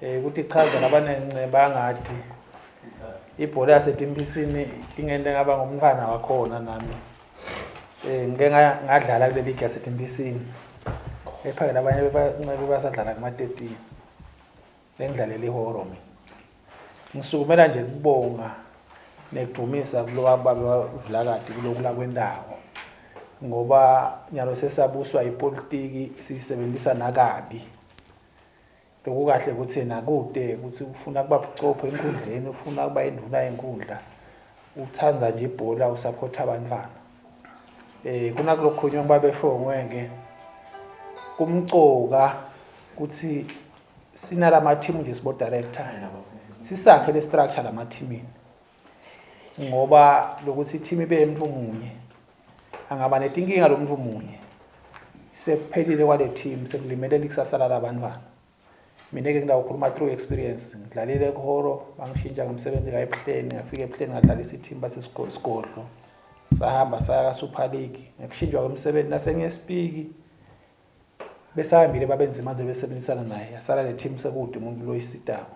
Eh ukuthi ichaza labanencinci bangadi. Ibhola yaseTimpisini ingente ngaba ngumntwana wakhona nami. Eh ngike ngadlala kule league yaseTimpisini. Ephakela abanye bebanqebe basadlala kuma 13. Bengidlalela ihoro mina. Ngisukumela nje kubonga nekudumisa kulowa babe wavulakade kulokhu la kwendawo. ngoba nyalo sesabuswa ipolitiki siyisebenzisa nakabi Lokukahle ukuthi nakude ukuthi ufuna kuba buchopho enkundleni, ufuna kuba induna yenkundla, uthanda nje ibhola, usaphotha abantwana. Eh kuna kulokhunye ngoba besho ngwenge kumcoka ukuthi sinalama team nje sibo director. Sisakhe le structure lama teamini. ngoba lokuthi i-team ibe umuntu munye angaba netinkinga lo muntu munye sekuphelile kwale team sekulimele likusasa lalabantwana mina-ke ngidawukhuluma through experience ngidlalile ekuhoro bangishintsha ngomsebenzi la ebuhleni ngafika ebuhleni ngadlalisa i-team bathi sigodlo sahamba saya ka-super league ngekushintshwa kwemsebenzi nasengiyesipiki besahambile babenzima nje besebenzisana naye yasala le team sekude umuntu loyisitako